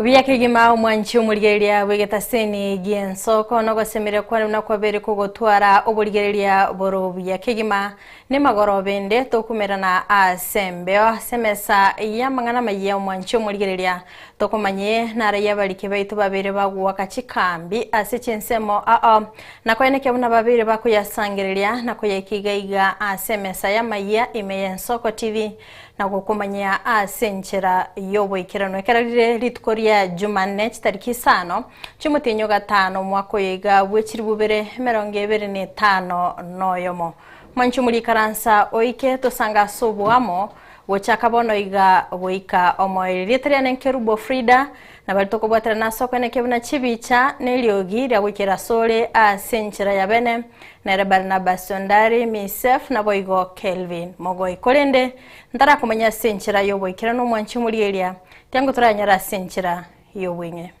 Buya kegima omwanchi omorigereria bw'egetaseni gi'enso kono ogosemeria kwane buna kwabere kogotwara oborigereria bore obuya kegima nemagoro bende tokumerana ase embeo ase emesa y'amang'ana amaya omwanchi omorigereria Tokomanya eye nare y'abariki baito babere bagoaka chikambi ase chinsemo ao, na koyana ekiabo na babere bakoyasangereria na koyaika iga iga ase emesa y'amayia ime y'ensoko TV, na gokomanyia ase enchera y'oboikeranu. Ekero rire rituko ria Jumanne chitariki isano chi'omotienyi o gatano omwaka oyo iga bwe chiri bubere emerongo ebere na etano na oyomo. Mwanchomwa rikaransa oike tosange ase oboamo Gochaka bono iga goika omoerio. Erieta riane nkerubo Frida, na baria tokobwaterana ase okoina ekibe buna chibicha, na eriogi ria goikera asore ase enchera ya bene, nere Barnabas ondari, Miseph, naboigo Kelvin, mogoi, korende ntarakomanya ase enchera y'oboikeranu omwanchi omorieria, tiangotoranyare ase enchera y'obweng'e.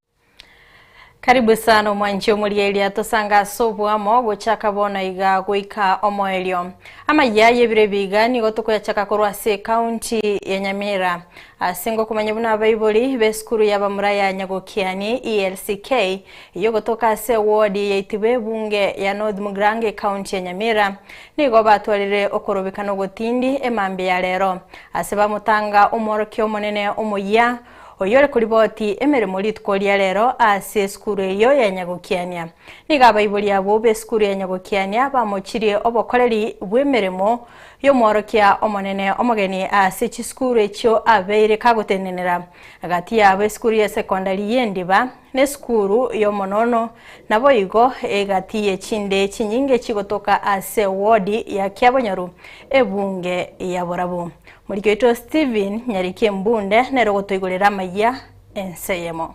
Karibu sana omwanchi omoria eria tosange ase oboamo gochaka bono iga goika omoerio. Amayia aye bire biga nigo tokoyachaka korwa ase ekaunti ya Nyamira. Ase ngokomanya buna abaibori b'esukuru ya bamura ya Nyagokiani, ELCK, eyio gotoka ase ewodi ya itibo ebunge ya North Mugrange ekaunti ya Nyamira nigo batwarire okorobekana ogotindi emambia ya rero. Ase bamotanga omworokia omonene omoyia oyore koriboti emeremo rituko ria rero ase esukuru eyio ya Nyagokiania. Nigo abaibori abwo b'esukuru ya Nyagokiania bamochirie obokoreri bw'emeremo y'omworokia omonene omogeni ase chisukuru echio abeire kagotenenera. Gati yabo esukuru ya sekondari y'Endiba, Nesukuru yomonono, naboigo egati yechinde chinyinge chigotoka ase wodi ya Kiabonyoru, ebunge ya borabu. Moriki oito Stephen Nyarikimbunde nere ogotoigorera amayia ense eyemo.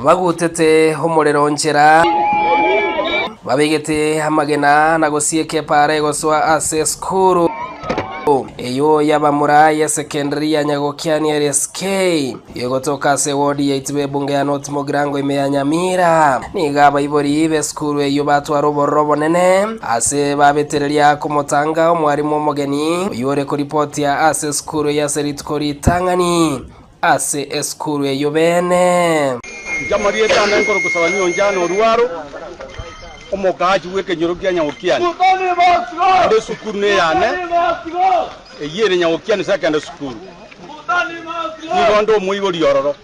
Bagutete omorero nchera, babegete amagena na gosieka epaara egosoa ase esukuru eyio y'abamura y'esekendari ya Nyagokiani LSK. Gegotoka ase ewodi yaito b'ebunga ya North Mogirango ime ya Nyamira, nigo abaibori b'esukuru eyio batwara obororo obonene ase babetereria komotanga omwarimu omogeni oyio ore koripotia ase esukuru eyio ase rituko ritang'ani ase esukuru eyio beene. Inche amarieta ane nkorokosaba nionche ane orwaro omokaachi bw'ekenyoro kia nyagokiani, ande esukuru neyane. Eyio ere Nyagokiani Secondary School. Nigo nde omoibori ororo.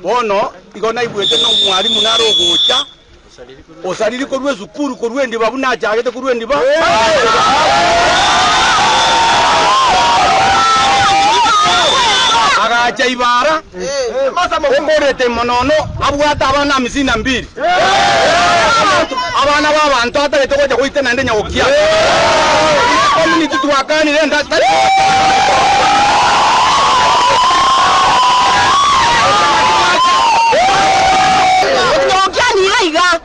Bono igo naigwete na omwalimu nare ogocha osariri korwa esukuru korwa endiba buna achagete korwa endiba. Agacha ibara Okorete imo nono abwate abana amisini na mbiri, abana b'abanto atagete gocha goita naende nyagokia. Ime community twakanire enga tari gocha.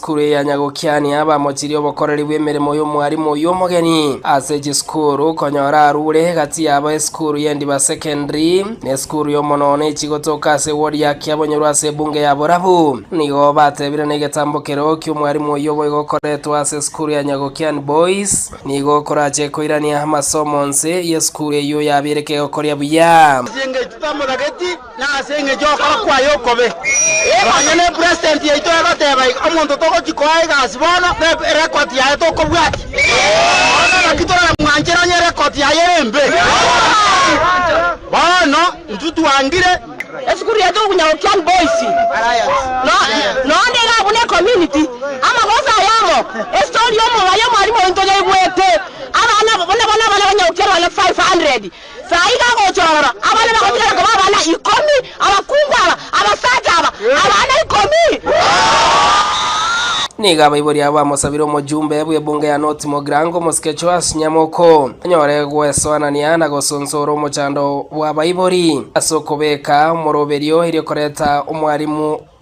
Kureanya gokiania abamochirie obokoreri bw'emeremo y'omwarimu oyio omogeni ase chisukuru, konyora arure gati yabo esukuru y'Endiba Secondary na esukuru y'omonoono echie gotoka ase ewodi ya Kiabonyorwa ase ebunge ya Borabu. Nigo batebire negetambo keroo ki'omwarimu oyio obo igokoretwe ase esukuru ya Nyagokiani Boys nigo okorache koirania amasomo nse y'esukuru eyio yabeire kegokoria buya. Na ase engecho y'okora kwaye okobe, nonya ne president yaito egoteba iga, omonto togochi koa egasi bono, ne record yaye tokobwatia. Bono naki toramwanchera onye record yaye ere embe. Bono intwe twangire. Esukuru yaito okunya Okian Boys no noonde iga buna ecommunity, amagoso aye amo, estory y'omobayi omwalimu oito yaigwete, abana buna bono abana ba Nyaokian bana 500 Saa iga agocha ororo, abana bagotigara koba abana ikomi, abakungu aba, abasacha aba, abana ikomi. Nigo abaibori abo bamosabire omojumbe bw'ebunge ya North Mogrango, omosike Joash Nyamoko, anyore gwesoanania na gosonsora omochando bw'abaibori ase okobeka omoroberio erio koreta omwarimu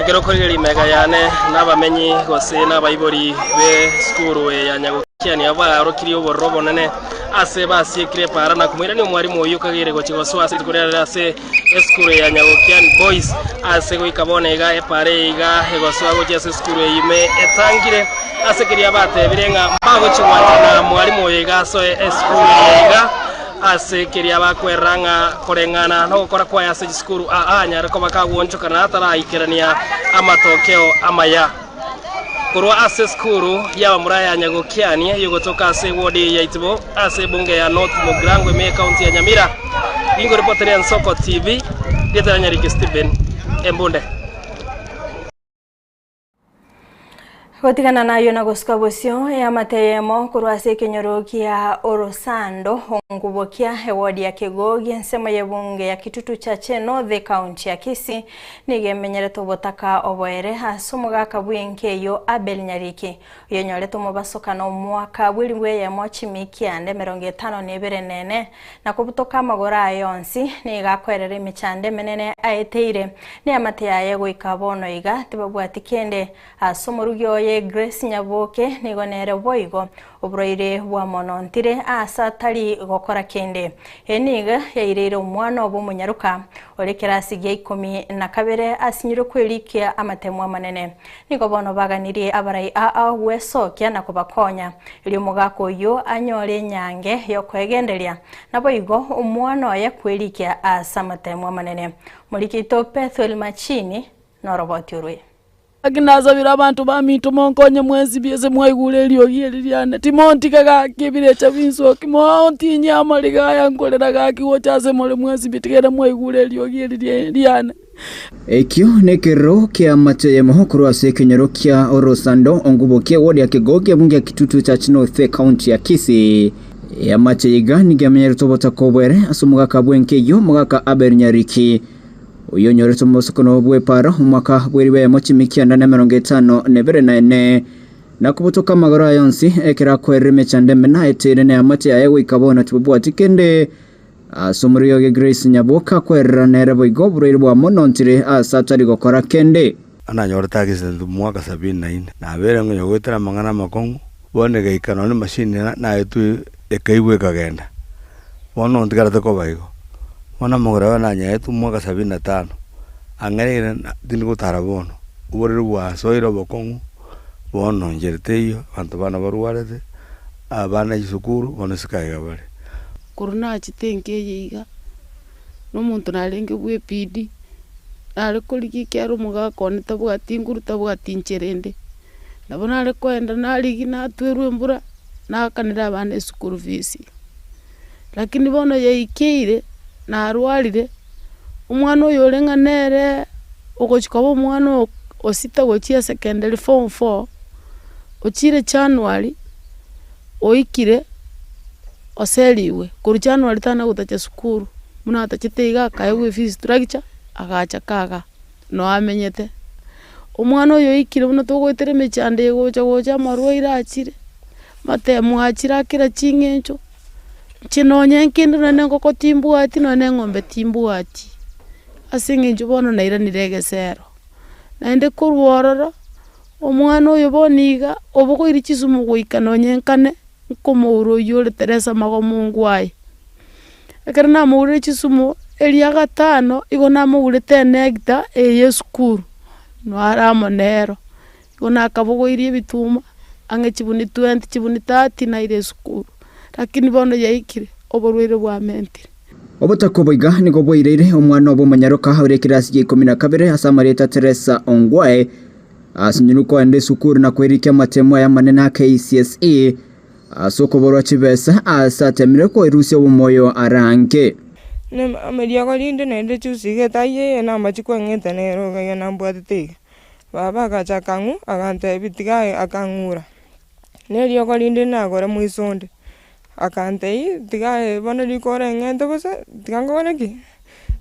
Ekero okorire rimega yane nabamenyi gose nabaibori be sukuru eye ya Nyagokia nigo baorokirie obororo obonene ase basiekire para na komoirania omwarimu oyio kagere gochia gosoa ase rituko riarire ase esukuru eye ya Nyagokian Boys ase goika bono iga epara eye iga egosoa gochia ase esukuru eye ime etangire ase keria batebire ng'a mbagochia gwanchana mwarimu oyo iga asoe esukuru eye iga Ase keria bakwerera ng'a koreng'ana nogokora kwaye ase chisukuru aa nyare koba kagwonchoka na ataraikerania amatokeo amaya. Korwa ase esukuru y'abamura ya Nyagokiani yogotoka ase ewodi ya Itibo ase ebunge ya North Mogrango ime ekaunti ya Nyamira, ingoripoteria Nsoko TV, rieta riane rike Stephen Embunde. Gotigana nayo na gosuka bosio eamate eyemo korwa ase ekenyoro kia orosando ongubokia ewodi ya Kegogi ensemo y'ebunge ya Kitutu Church North ekaunti ya Kisii nigo emenyerete obotaka oboere ase omogaka bw'enka eyio Abel Nyariki oyonyorete omobaso kana omwaka bw'eribu eyemo chimikia ande emerongo etano na ebere na ene na kobutoka amagoro aye onsi, nigo akwerera emechando emenene aeteire neamate yaye goika bono iga tibabwati kende. Ase omorugi oye Grace Nyabuoke nigo nere boigo oborwaire bwamonontire aase atari gokora kende. Eye nigo yaireire omwana obo omonyaroka Ore ekerasi gia ikomi na kabere asinyirwe kwerikia amatemu amanene. Nigo bono baganirie abarai aao gwesokia na kobakonya, erio omogaka oyio anyore enyange y'okoegenderia, naboigo omwana oye kwerikia ase amatemu amanene. Morikerito Pethuel Machini noroboti orwe. Naki nasabire abanto baminto monkonye mwensibie ase mwaigure eriogi eri riane, timontige gaki ebirecha binsoki, moontinye amariga aya nkorera gaki gocha ase more mwensibie, tiga mwaigure eriogi eri riane. Ekio nekerero ki'amache yemo korwa ase ekenyoro kia orosando ongubokie goria kegokia buna gia Kitutu Church North County ya Kisii. Eamache iga nigo amenyeretwe obotaka obwere ase omogaka bw'enka eyio, Mogaka Abel Nyariki. Oyonyorete omosokoro bw'epaaro omwaka bw'eriba eyemo chiimi kianda na emerongo etano na ebere na ene, na kobotoka amagoro aye onsi, ekero akwerire emechando emena etire na eamate yaye goika bono tibabwati kende. Ase omorio oge Grace Nyabuoka akwerera nere boigo oborwaire bwamonontire ase atari gokora kende. Ananyore tageseseneti omwaka sabini na ine, nabeire ngonya goetera amang'ana amakong'u, bono egaika nonya nemasini naetwe ekaigwa ekagenda. Bono ntigarete koba igo. Bono amagoro aye nanyaetwe omwaka sabini na tano, ang'ereire tindi gotara bono, oboriri bwasoire obokong'u, bono inche teiyo, abanto bana barwarete, abana chisukuru, bono isiko aiga bare. Korwa nachete enka eye iga. na omonto narenge bw'ebiidi, nare korigia ekiagera omogaka one tabwati inguru, tabwati inchera ende, nabo nare koenda narigia natwerwa embura, naakanera abana eschool fees. Lakini bono yaikeire, narwarire, omwana oyo ore ng'a nere ogochia koba omwana oo osita gochia secondary form four, ochire January. oikire oserigwe korwa January tana gotacha sukuru, buna atachete iga akaegwa efees structure agacha kaga noo amenyete. Omwana oyo oikire buna togoetera emechando eye gocha gocha amarwaire achire, amatemo achire a kera ching'encho, inche nonya nkende nonya engoko timbwati nonya na eng'ombe timbwati, ase eng'encho bono nairanire egesero. Naende korwa ororo. Omwana oyo bono iga obogoiri chisumu goika nonyenkane nkomoura oyio ore Teresa amagomungo aye. Ekero namourire chisumu eria gatano igo namourete enegita eye yesukuru nare amo nero. Igo nakabogoirie ebituma ang'e chibuni twenty chibuni thirty naira esukuru. Lakini bono yaikire, oborwaire bwamentire. Obotoka oboiga nigo bwaireire omwana obo omonyaroka ore ekirasi gia ikomi na kabere ase amarieta Teresa Ongwae asinyorwe koenda esukuru na kwerikia amatemo aye amanene a KCSE ase okoborwa chibesa aase atemirwe koerusia obomoyo arange. Neriogo rinde nerire chusi iga etaiyo eye namachiko ang'ete nere iga nambwatete iga. Baba agacha akang'u, agantebi tiga akang'ura. neriogo rinde nagore moiso onde, akantei tiga bono riko oreng'ente bosa tiga nkore ki?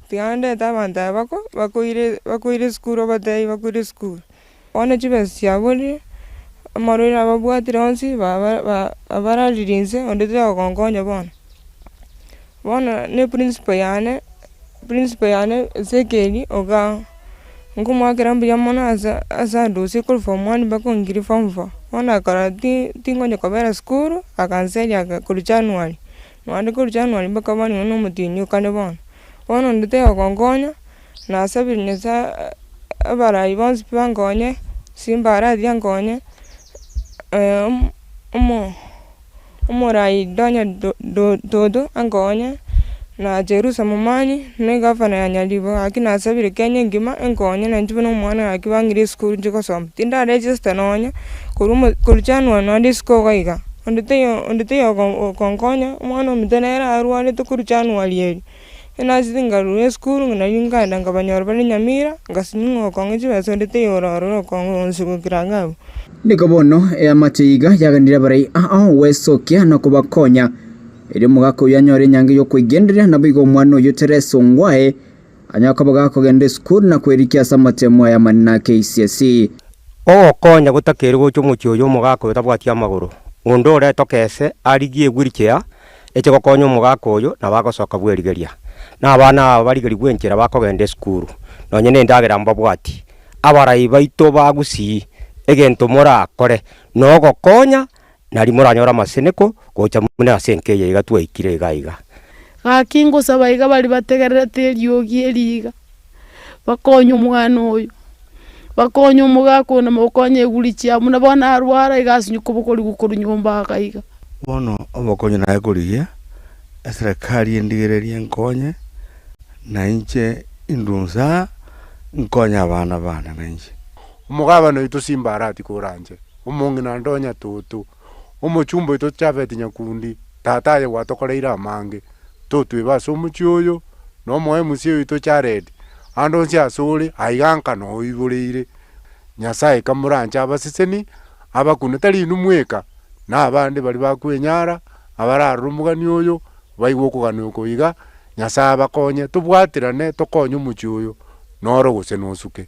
Tiga ndete abanto aba bako bakoire bakoire esukuru obatebi bakoire esukuru. Bono chibesa chiabo erio, amarwaire ababwatire onsi ba- ba- barariria inse onde tari kogonkonya bono. Bono ne principle yane principle yane ase ekeeri oga nkomoakera mbuya mono asa asa adosie korwa form one mpaka ongiri form four bono akora ti tingonya kobera sukuru akanseria aka korwa january naende korwa january mpaka bono nyowe nomotienyi kare bono bono onde toyogonkonya nasabire nyasaye abarai bonsi bankonye simba arathi ankonye omo. Omoraai Donya Dodo enkonye, na Jerusa Momanyi, na egavana ya Nyaribo, gaki nasabire Kenya engima enkonye nainche buna omwana gaki bang'ire esukuru inche gosoma. Tindara register nonya, korwa korwa January nande isiko iga iga, onde taiyo onde taiyo okonkonya, omwana ominto nere arwarete korwa January erio. Enase tingarorwa esukuru, ng'a nario nkaenda nkabanyora bare Nyamira, ngasimia ng'a okong'u chibesa orete igoro ororo okong'u onsi gokira iga abwo. Nigo bono eamache iga yaganire abarai ao gwesokia na kobakonya, erio omogaka oyio anyore enyango y'okweigenderera, naboigo omwana oyio Tereso ngwaye anyare koba gakogenda esukuru na kwerikia ase amatemo aya amanene a KCSE. Ogokonya gotakeire gocha omochie oyo omogaka oyo tabwati amagoro, onde oretoka ese arigie egwirichea, eche gokonya omogaka oyo, nabo agosoka bw'erigeria, na abana aba barigerigwe enchera bakogenda esukuru, nonye nendagera mbabwati. Abarai baito bagusii, egento morakore nogokonya, nari moranyore amaseneko gocha buna ase enka eye iga twaikire iga iga. Gaki ngosaba iga bari bategererete eriogi eri iga, bakonye omwana oyo, bakonye omogaka oyo nabakonye eguri chiabo, buna bono narwara iga asinye kobokorigwa korwa nyomba aka iga. Bono obokonyi naye korigia, eserekari endigererie enkonye, na inche indue inse aa, nkonye abana baane na inche. Omogabana oito simba aratikore anche, omong'ina ndonye atoto. Omochumba oito Jafeti nyakundi, tata aye gwatokoreire amange, totwebe ase omochie oyo, na omoe Musie oito Jaredi, ande onsi asore aiga nkana oiboreire. Nyasae kamoranche abaseseni, abakune tari inwe mweka, na abande baria bakwenyara, abararore omogani oyo, baigwe okogania oko iga, Nyasae abakonye, tobwaterane tokonye omochie oyo, noro gose nosuke.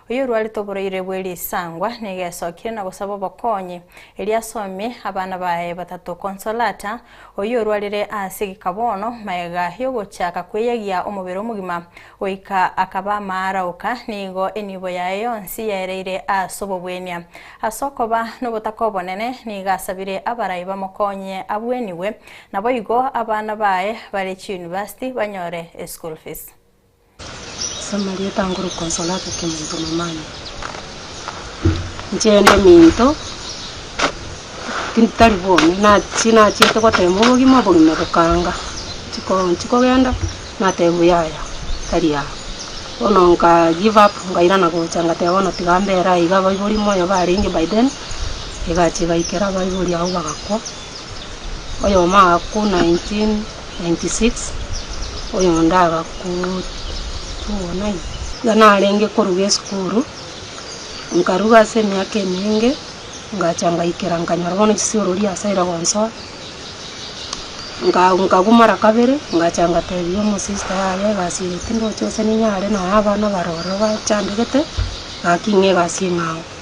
oyorwarete oboraire bwe risangwa negesokire na gosaba obokonyi, erio asomie abana baye batato Consolata, oyorwarire ase egeka bono, magega y'ogochaka kweyagia omobere omogima, goika akaba amaaraoka, nigo enibo yaye yonsi yaereire ase obobwenia. Ase okoba nobotaka obonene nigo asabire abarai bamokonyie abwenigwe, naboigo abana baye bare chiunivasiti banyore eschool fees. Samaria etangore okosoa ase ekeminto momama, inche inde eminto tindi tari bono, nachia nachiete goteema obogima, obogima bokanga, chiko chikogenda nateba buya yaya tari aa, bono nka give up nkairana gocha ngateba bono tiga mbera aiga, abaibori moyo barenge by then, egacha egaikera abaibori abwo bagakwa. oyomo agakwa 1996, oyonde agakwa 2009. Iga narenge koruga esukuru, nkaruga ase emiaka emenge, ngacha ngaikera nkanyora bono chisiorori ase ere gonsoa, nka- nkagwa mara kabere, ngacha ngatebia omosister yaye egasi eye tindoche gose ninyare noe abana bare ororo bachandegete, gaki ng'a egasi eng'ao.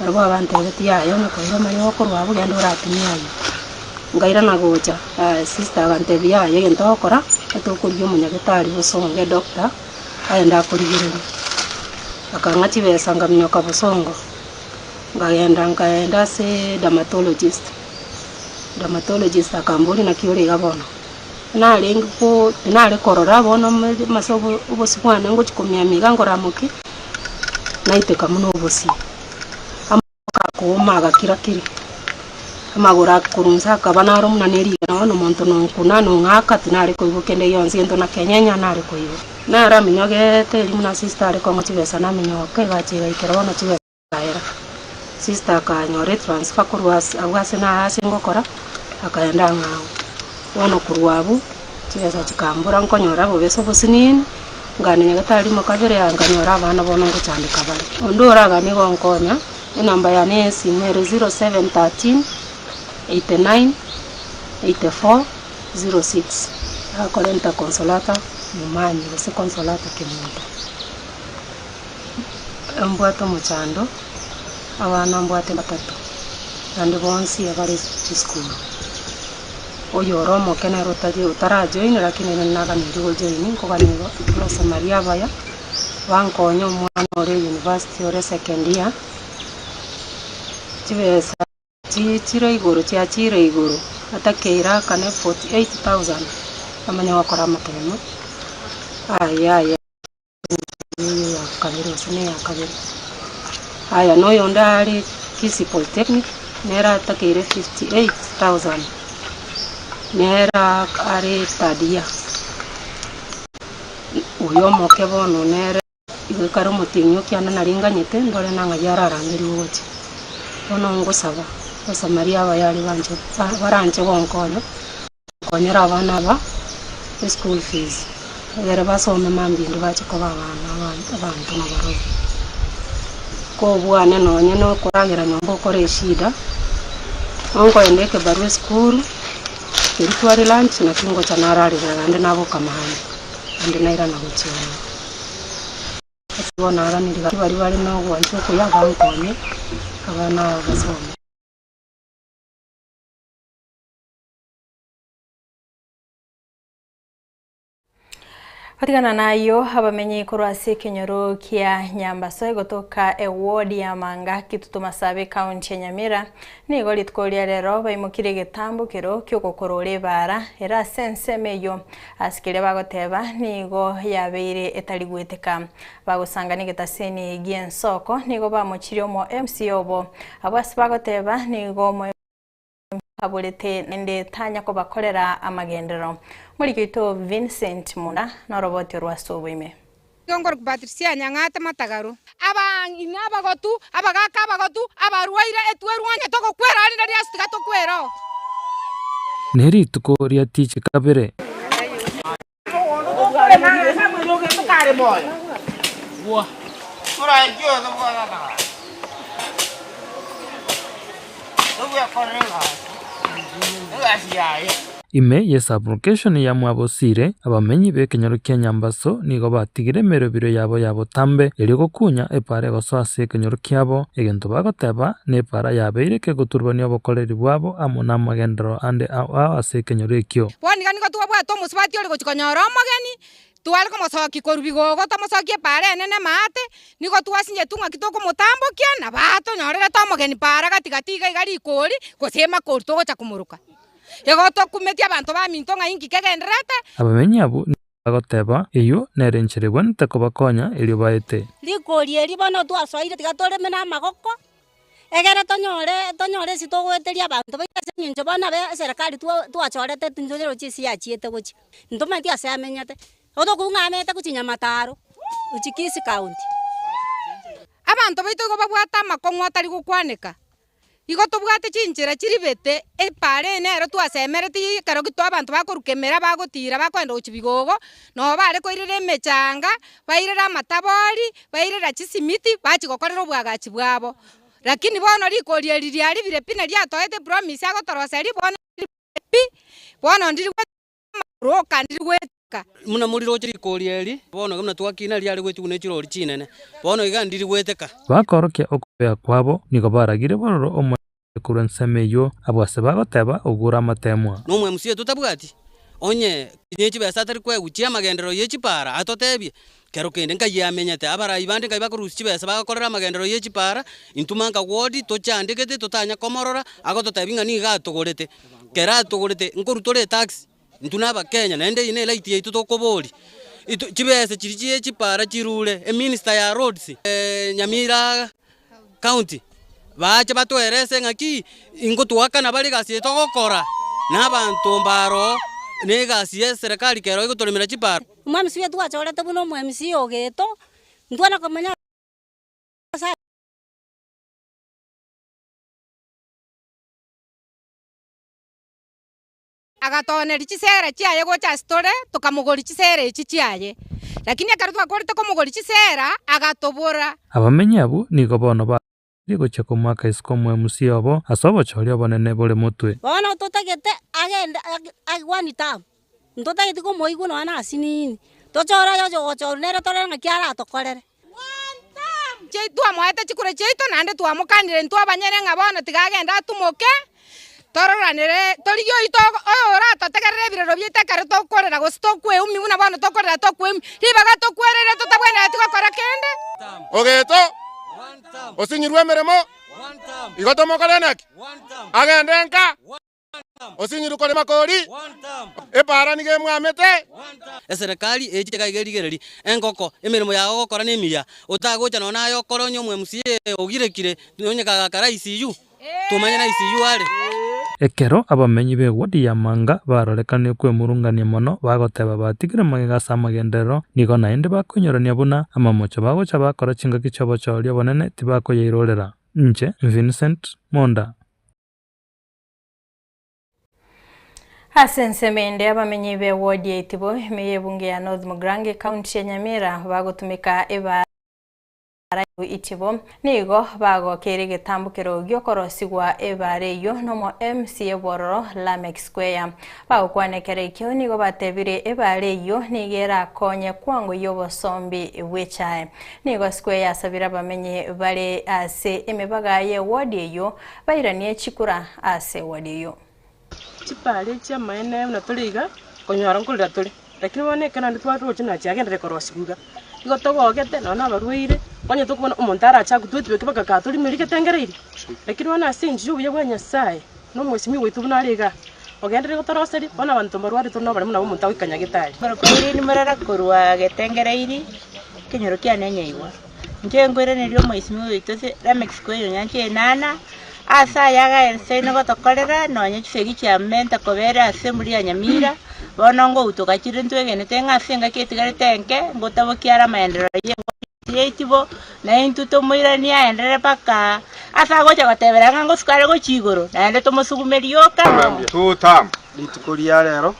Barabwo abantebetie, Yaya, omokaire omoya okorwa abwo, genda oratumie aye. Nkairana gocha, yaya sister agantebia, Yaya, egento ogokora, netokoria omonyagetari bosongo, edoctor, agende akorigererie. Akang'a chibesa nkaminyoka bosongo, nkagenda nkaenda ase dermatologist, dermatologist akamboria, naki ore iga bono? Narenge ko- tinare korora bono amo- ase obosibwane ngochia komiamia iga nkoramokia. naiteka buna obosio, amaboko akauma agakira-kira, amagoro akorwa inse akaba naro buna nerigena, bono omonto nonkuna nong'aka tinare koigwa kende gionsi, gento nakenyenya nare koigwa. Nare aminyogeete erio buna sister are kong'wa chibesa naminyoka egacha egaikera bono chibesa. Akaera. Sister akanyora etransfer korwa ase abwo ase naro ase ngokora, akaenda ang'e agwo. Bono korwa abwo, chibesa chikambora nkonyora bobesa obosiniini, nkanenya getari rimo kabere yaya nkanyora abana bono ngochandeka bare. Onde oragane gonkonya, enamba yane ya esimo ere zero seven thirteen, eighty nine, eighty four, zero six. Agakora enter Consolata Momanyi gose Consolata Kemito. mbwate omochando, abana mbwate batato, naende bonsi bare chisukuru. Oyo ore omoke nere otari otara join lakini nere naganeirie go join, nkogania iga abasomari abaya, bankonye omwana ore university ore second year, chibesa chie chire igoro chia chire igoro, ata keira akane forty eight thousand, namanya gokora amatemo, aye aye. Aya noyonde are Kisii Polytechnic nere atakeire 58,000 nere are third year. Oyo omoke bono nere igo kare omotienyi okiane naringanyete ndore ng'a ng'ai ararangeria ogocha. Bono ngosaba abasamaria abayaria banche baranche gonkonya. Konyera abana aba eschool fees egere basome mambia bache koba abana abanto na barobwo. Kobwane nonye no koragera nyomba okore eshida, onkoenda ekebarua esukuru keria tware lunch nakio ngocha nararera naende naboka maambia naende nairana gochia ime. Ase igo naraneria baria baria bare na ogwancha okuya bankonye abana aba basome. Gotigana nayio abamenyi korwa ase ekenyoro kia Nyambaso egotoka eward ya Manga Kitutu Masabi county ya Nyamira nigo rituko ria rero baimokire egetambo kero kiogokorora ebara ere ase ensemo eyio ase keria bagoteba nigo yabeire etarigweteka bagosanga negetaseni gia ensoko nigo bamochirie omo mca obo abwo ase bagoteba nigo nkaborete naende tanya kobakorera amagenderero. Moriki oito Vincent Muna noroboti orwo ase oboime. Igo nkorukubatirisia anyang'aate amatagaru. Abang'ina abagotu, abagaaka abagotu, abarwaire, etue erwonye togokwera, rinde riaso tiga tokwera oo. Ne rituko ria tichi kabere. Ime ye sublocation ya Mwabosiire, abamenyi b'ekenyoro kia Nyambaso nigo batigire emerobiro yabo ya botambe, erio gokunya epaara egosoa ase ekenyoro kiabo. Egento bagoteba, Nepaara yabeire ekeguturbania obokoreri bwabo amo namagenderero ande ao ase ekenyoro ekio. Bono iga nigo twabwate omosubati ore gochia konyora omogeni, tware komosokia korwa bigogo tomosokie epaara enene amaate, nigo twasinyetu ng'aki tokomotambokia nabo aa tonyorerete omogeni paara gati gati iga iga rikori gose emakori togocha komoroka. Igo tokumeti abanto baminto ng'ai inki kegendererete. Abamenyi abwo nigo. agoteba, Eyio nere enchera ebwanete kobakonya erio baete. Rikori eri bono twasoeire tiga toreme namagoko, egere tonyore tonyore ase togoeteria abanto baito ase eng'encho bono abe eserekari twa twachorete tintonyora chisi yachiete gochia. Ntomanyeti ase amenyete, oto okong'u ng'a ameete gochia Nyamataro, gochia Kisii county. Abanto baito igo babwate amakong'u atari gokwaneka. Igo tobwate chinchera chiribete, epaara eye nero twasemereti ya ekero gito abanto bakoruka emera bagotiira bakoenda gochia bigogo, nobo bare koirera emechanga, bairera amatabori, bairera chisimiti bachia gokorera obwagachi bwabo. Rakini bono rikori eri riaribire pi na riatoete epromise agotoroseria bono pi, bono ndiri goetera. amagoro okanire gwetaka. Buna moriroche rikori eri, bono buna twakina riare gwetuguna echirori chinene, bono iga ndiri gweteka. Bakorokia okobea kwabo, nigo baragire bororo omoerio ore korwa ensemo eyio, abwo ase bagoteba, Ogure amateemwa. Nomwemusi oyo totabwati, onye kinya echibesa atari kweguchia amagenderero ye chipaara, atotebie, Kero kende Nkai amenyete. Abarai bande Nkai bakorusia chibesa bagakorera amagenderero ye chipaara, intwe manka gwoti tochandegete totanya komorora agototebi ng'a nigo atogorete. Kero atogorete nkoru tore etax, intwe na abakenya naende eye ne right yaito tokoboria. Chibesa chiria chie chipaara chirure, eminister ya roads, nyamira County, baache batwerese ng'aki ingotuakana bare egasi eye togokora n'abanto baaro na egasi ye Serekari kero egotoremera chibaro. Omwamisi oito gwachorete buna omwamisi o geto, intwe nokomanya ase Nyasaye. Agatooneria chiseera chiaye gocha ase tore, tokamogoria chiseera echi chiaye. Lakini ekero twakorete komogoria chiseera, agatobora. Abamenyi abwo nigo bono bagochire gochia komoaka isiko omwemusi obo ase obochooria obonene bore motwe. Bono totagete agende Gwani Town, ntotageti komoigwa nonya nasiini, tochore aye oche ogochorwa nere torore ng'aki aratokorere. Twamoete chikure chiaito naende twamokanire intwe abanyene ng'a bono tiga agende atumoke, tororanere torigie oito oyo oratotegerere ebirero biaito ekero tokorera gose tokweumia buna bono tokorera tokweumia, ribaga tokwerere totabwenereti gokora kende. Ogeto, osinyirwe emeremo, igo tomokore naki, agende nka. Osinyiruko rima kori. Epaara nigo emwamete. Eserekari echi tiga iga erigereri engoko emeremo yago ogokora nemiya. Otagocha nonya naye okore onye omo mca ogirekire nonye kagakara ICU. Tomanye na ICU are. Ekero abamenyi b'ewodi ya Manga barorekanirie kwemurungania mono bagoteba batigire magega ase amagenderero, nigo naende bakoinyorania buna amamocho bagocha bakora chingaki chi'obochooria obonene tibakoyairorera. Inche, Vincent, Monda. Ase ensemo ende abamenyi be ward ya Itibo, ime ye ebunge ya North Mugrange, ekaunti ya Nyamira bagotumeka ebaara ya Itibo nigo bagokeire egetambukero gi'okorosigwa ebaara eyio nomo MC ebororo Lameck Square. Bagokwana ekero ekio nigo batebire ebaara eyio nigo erakonye kwango y'obosombi bw'echae. Nigo Square yasabire abamenyi bare ase emebaga ye ward eyio Bairanie chikura ase ewodi eyio. Chipare chi'amaene buna tore iga konyora nkorera tore, lakini bono ekero naende tware togochia nonye chiagendererete korosiwa iga, nigo togogete nonya nabarwaire, onye tokobona omonto arache agotwetwe eke bagakaga tore emerwe getengereiri, lakini bono ase enchera y'obuya bwa Nyasaye, na omosibwa oito buna are igaa, ogenderere gotoroseria, bono abanto mbarware tore nobaremo nabo omonto agoikanyagete are. Korokoro ere nimorara korwa getengereiri, ekenyoro kiane nyaigwa. Inche nkoiraneria Omoisimio oito ase Lamex koerio nyancha enana, ase aya agaenseino gotokorera, nonya chisegi chia menta kobera ase emburi ya nyamira, bono ngoutoka chire ntwegenete ng'a ase engaki etigarete enke, ngotabokie are amaenderero y'eng'ondi ase yaitibo, na intwe tomoiranie aenderere mpaka ase agocha gotebera ng'a ngosuka are gochia igoro, naende tomosugumerie oka. Rituko ria rero,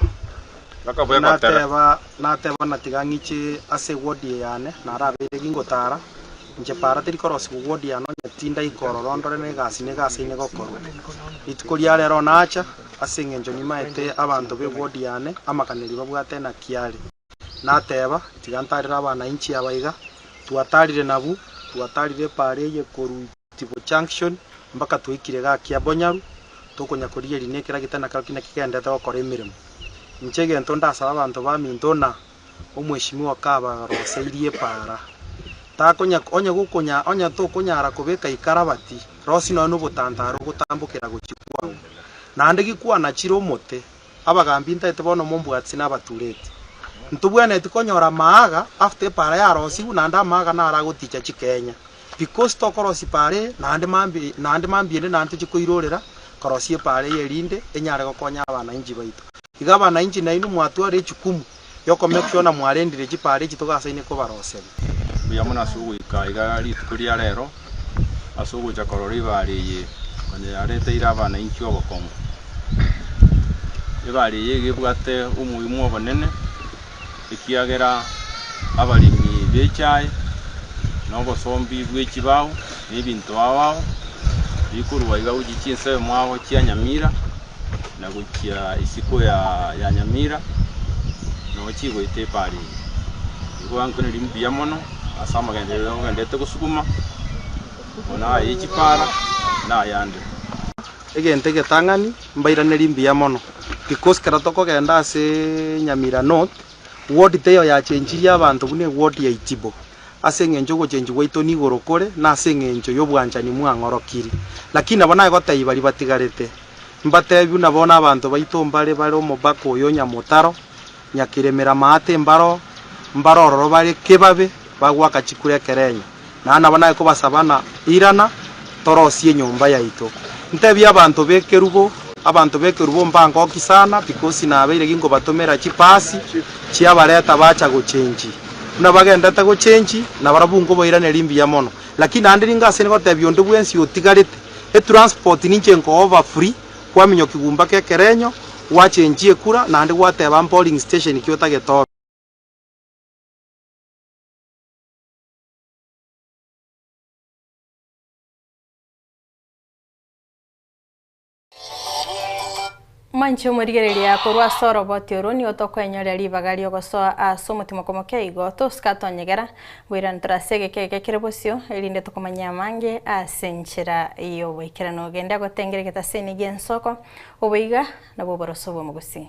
inateba. Nateba buna tiga ng'iche ase ewodi eye yane, narabeire gingotaara, inche para teri korosigwa ewodi yane onye tindai korora ondore negasi nigo aseine gokorwa. Rituko ria rero nacha, ase engencho nimaete abanto b'ewodi yane amakaneri babwate na kiare. Nateba, tiga ntarire abana inchi abaiga, twataarire nabu, twataarire epaara eye koruiti. Tibo Junction, mpaka twaikire gaki Abonyaru, tokonya korigeria na ekera gete na kero ki naki gendete gokora emeremo. Inche egento ndasaba abanto baminto na Omweshimiwa kabaroseirie epaara. Takonya, onye gokonya, onye tokonyara kobeka ikarabati, rosie nonya nobotantara ogotambokera gochia kwao. Naende gikwanachire omote, Abagaambi ntaete bono mombwatisi nabatureti. Ntobwenereti konyora amaaga after epaara yarosigwe naende amaaga naro agoticha chikenya because tokorosia epaara eye naende mambie naende mambie ende naende tochie koirorera korosia epaara eye erinde enyare gokonya abanainchi baito. Iga abanainchi nainwe mwatwara echukumu y'okomekio na mwarendire chipaara echi togasaine kobaroseria. Mbuya mono ase ogoika aiga rituko ria rero, ase ogocha korora ebaare eye konya yareteire abanainchi obokong'u. Ebaare eye iga ebwate omoimo obonene, ekiagera abaremi b'echae, na obosombi bwe chibao, na ebinto ao ao, bikorwa aiga gochia chinsemo ao chia nyamira, na gochia isiko ya ya Nyamira nonya chigoeta efarini. Nigo bankonereria mbuya mono ase amagenderero ayio bagendete gosuguma buna aye chipara na ayande. Egento egetang'ani mbairanerie mbuya mono because ekero tokogenda ase Nyamira North ward teiyo yachenchirie abanto buna eward ya Itibo. ase engencho y'ogochenchwa gwaito nigoro kore, na ase engencho y'obwanchani mwang'orokiri. Lakini nabo nagotaiba ribatigarete, mbatebiu nabo nabanto baito mbare bare omobaka oyo nyamotaro, nyakiremera amaate mbaro, mbare ororo bare kebabe, bagwaka chikure ekerenya. Na nabo naye kobasaba na irana. Torosie enyomba yaito. Ntebie abanto b'ekerubo, Abanto b'ekerubo mbangoki sana, because nabeire ginkobatomera chipasi chiabareta bacha gochenji. Buna bagendete gochenji, nabarabwo nkobairaneria mbuya mono. Lakini naende ninga ase ngotebia onde bwensi otigarete, etransport ninche nkogoba free, kwaminywa kigumba k'ekerenyo, gwachenjia ekura, naende gwateba mpoling station ki otagete obe. Mwanche omorigereria korwa ase oroboti oro, nigo tokwenyorera ribaga ri'ogosoa ase omotima okomokia igo tosika tonyegera, ngoirane tore ase egeka egeka kere bosio, erinde tokomanye amange ase enchera y'oboikeranu. Ogende agotengere egetaseni gi'ensoko, oboiga, nabwo oboroso bw'omogusii.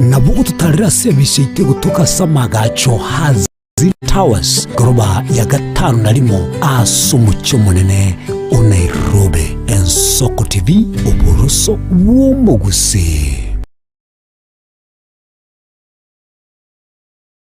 Nabo gototarire ase ebicha yaito egotoka ase amagacho a Ziri Towers, goroba ya gatano na rimo ase omochie omonene o Nairobi. Ensoko TV, oboroso bw'omogusii.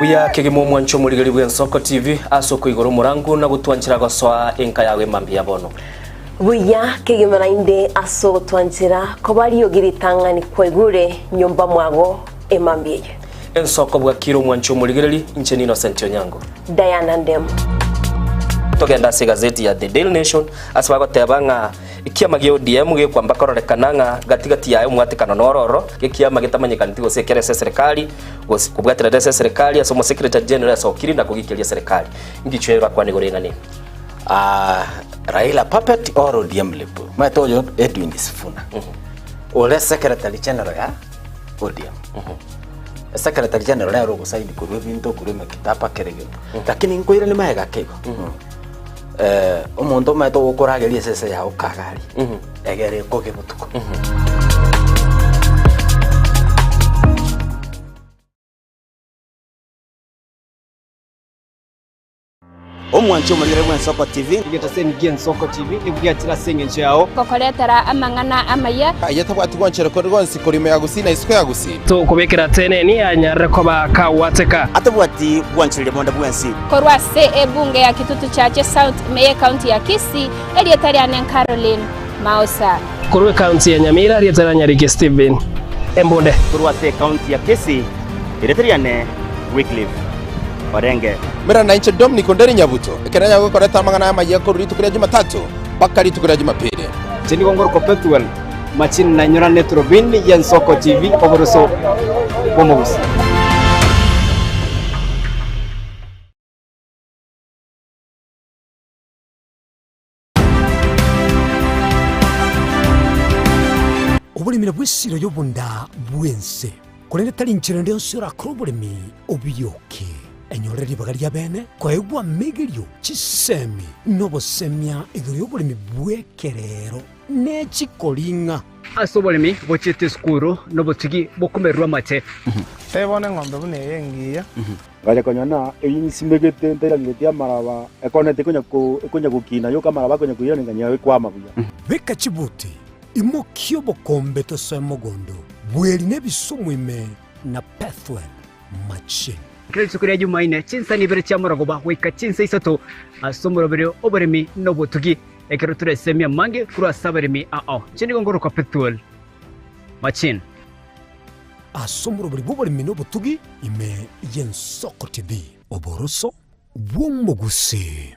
Buya kegima omwanche omorigeri bw'Ensoko TV ase okoigora omorango na gotwanchera gosoa enka yao emambia ya bono. Buya kegima naende ase ogotwanchera koba riogi ritang'ani kwaigure nyomba mwago emambia eye. Ensoko bwakire omwanche omorigereri, inche n'Innocent Onyango. Diana Ndemu. Togenda ase egazeti ya The Daily Nation ase bagoteba ng'a Ekiama gia ODM gekwamba kororekana ng'a gati gati yaye omwatekano nororo gekiama getamanyekaneti gose ekero ase eserekari gose kobwaterera ase eserekari ase omosekretari general esokiri na kogikeria eserekari. Ngichwe bakwane igoro y'eng'ana eye. Aah Raila puppet or ODM lip omanyete oyo Edwin Sifuna ore secretary general ya ODM secretary general nere ogosign korwa ebinto korwa emekitaba kera egento lakini nkoirane magega keigo. Eh, omonto omanyete ogokorageria esese yao kagari, egere ekoge botuko. omwanche omorere bw'ensoko tv Igeta seni gia Nsoko TV nibwatire ase eng'encho yao. kokoretera amang'ana amaya aye tabwati gonchere kore gonsi kori ime ya gusii na isiko ya gusii Tokobekera teneni anyarere koba akagwateka. atabwati gwancherire bonde bwensi Korwa ase ebunge ya Kitutu Chache South ime y'ecounty ya Kisii, erieta riane Caroline Maosa. Korwa ecounty ya Nyamira, erieta riane Nyariki Stephen Embunde. Korwa ase ecounty ya Kisii, erieta riane Wycliffe Orenge. Mera na inche Dominic Onderi Nyabuto, ekero nyagokorete amang'ana aya amayia korwa rituko ria Jumatatu mpaka rituko ria Jumapili. Inche nigo ngoro Copetwell. Machine nainyora ne turubini y'ensoko TV oboroso bw'omogusi. Oboremi nabwo esiro y'obonda bw'ense, korende tari inchera ende yonsi yorakore oboremi obirioke, enyorere ribaga ri'abeene, koegwa amegerio, chisemi, na obosemia igoro y'oboremi bw'ekereero. ne chikoring'a. Ase oboremi bochiete esukuru na obotigi bw'okomererwa amache. Tebe bono eng'ombe buna eye engiya. Ngacha konya na eyio nyisimegete ntairaneretie amaraba, ekona tekonya ekonya gokina, yoka amaraba akonya koirana enga'a yao ekwama buya. Beka chibuti, imokia obokombe tosoe mogondo, bweri na ebisumu ime na Pethuel machine. Kera rituko ria Jumaine, chinsani ibere chi'amarogoba goika chinsa isato ase omoroberio oboremi na obotugi. Ekero toresemi amange korwa ase abaremi ao, inche nigo ngoroka Pethuel. Machin. Ase omorobori bw'oboremi na obotugi ime y'Ensoko TV. Oboroso bw'Omogusii.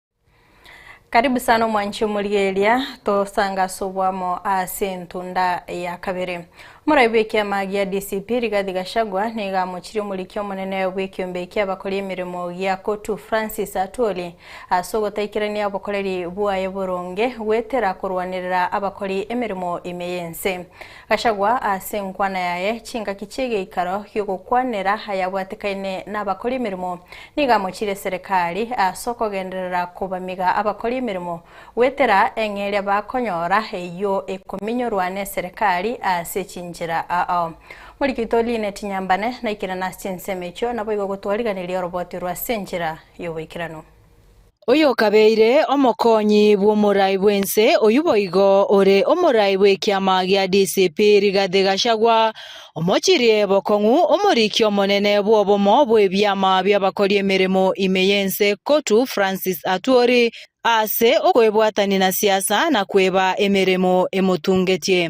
Karibu sana omwanchi omorigereria, tosanga ase oboamo ase entunda ya kabere. Omoraibi w'ekiama gia DCP Rigathi Gachagua nigo amochirie omoriki omonene bw'ekiombe ki'abakori emeremo gia Cotu Francis Atwoli ase ogotaikerania obokoreri bwaye boronge goetera korwanerera abakori emeremo ime y'ense. Gachagua ase enkwana yaye chingaki chi'egeikaro gi'ogokwanera ayabwatekaine nabakori emeremo nigo amochirie eserekari ase okogenderera kobamiga abakori emeremo goetera eng'eria bakonyora eyio ekominyorwa neserekari ase chinchera aao. Morigeito Linet Nyambane naikerane ase chinsemo echio naboigo gotwariganiria oroboti rwa ase enchera y'oboikeranu. Oyokabeire omokonyi bw'omorai bw'ense oyio boigo ore omorai bw'ekiama gia DCP Rigathi Gachagua, omochirie bokong'u omoriki omonene bw'obomo bw'ebiama bi'abakori emeremo ime y'ense Cotu Francis Atwoli ase okwebwatania na siasa na kweba emeremo emotungetie.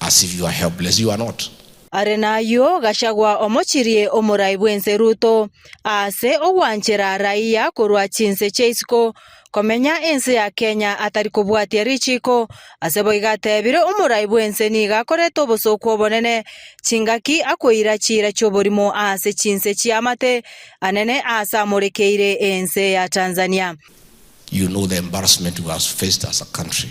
as if you are helpless, you are not. Are nayio Gachagua omochirie omorai bw'ense Ruto aase ogwanchera raia korwa chinse chia isiko komenya ense ya Kenya atari kobwatia richiiko ase boiga atebire omorai bw'ense nigo akorete obosooku obonene chingaki akoira chiira chi'oborimo aase chinse chia amate anene aase amorekeire ense ya Tanzania. You know the embarrassment we have faced as a country.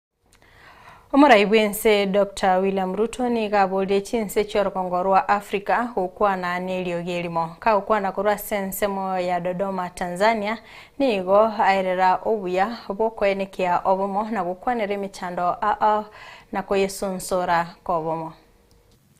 Omorai bw'ense Doctor William Ruto nigo aboririe chinse chi'orogongo rwa Africa gokwana n'eriogi erimo. Kagokwana korwa ase ensemo ya Dodoma, Tanzania, nigo aerera obuya bw'okoenekea obomo na gokwanera emechando aa na koyesonsora kobomo.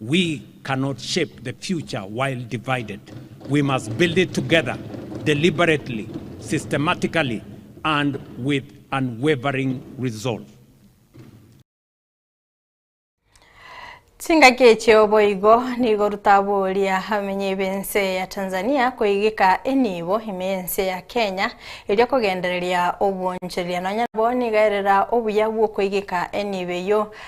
We cannot shape the future while divided, we must build it together, deliberately, systematically, and with unwavering resolve. Chingaki echio boigo nigo rutaboria abamenyi b'ense ya Tanzania koigeka enibo ime y'ense ya Kenya erio kogendereria obwonchereria nonya nabo nigaerera obuya bw'okoigeka enibo eyio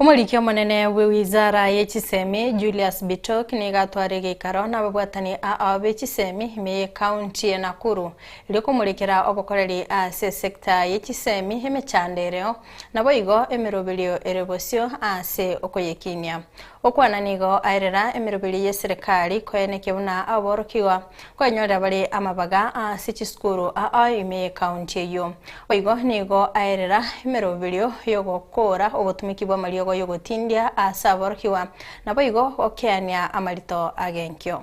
Omoriki omonene bwe wizara ye chisemi Julius Bitok nigo atware geikaro nababwatani ao be chisemi ime ye county ye Nakuru erio komorekera obokoreri ase sector ye chisemi emechando ereo naboigo emeroberio ere bosio ase okoyekinia. Gokwana nigo aerera emeroberio y'eserekari koyanekia buna aborokigwa koenyorera bare amabaga ase chisukuru aa ime y'ekaunti eyio. Boigo nigo aerera emeroberio y'ogokoora obotumiki bw'amariogo y'ogotindia ase aborokigwa, naboigo gokeania amarito ag'enkio.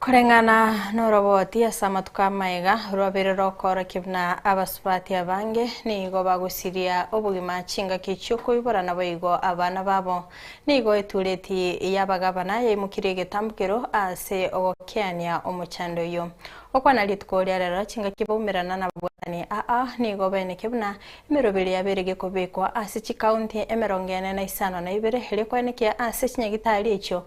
Koreng'ana noroboti ase amatuko amaiga, rwabeire rokoorokia buna abasubati abange nigo bagosiria obogima chingaki chiokoibora naboigo abana babo. Nigo etureti y'abagabana yaimokirie egetambukero ase ogokeania omochando oyio. Okwana rituko ria rero chingaki baumerana nababwatani aa nigo baeneke buna emeroberi yabeire gekobekwa ase chikaunti emerongo ene na isano na ibere rikoenekia ase chinyagitari echio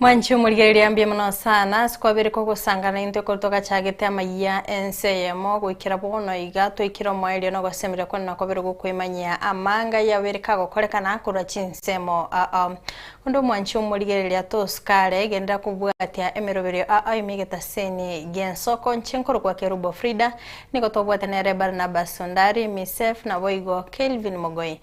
Mwanchi omorigereria mbuya mono sana ase kwabere kogosangana intwe ekero togachagete amayia ense eyemo goikera bono iga toikire omoerio na ogosemeria kwane nakobere gokoimanyia amanga yabere kagokorekana korwa chinsemo aa. Onde omwanchi omorigereria tosikare genderera kobwatia emeroberio aa ime egetaseni gi'ensoko inche nkorokwa Kerubo Frida nigo twabwate nere Barnabas Ondari, Miseph, naboigo Kelvin Mogoi.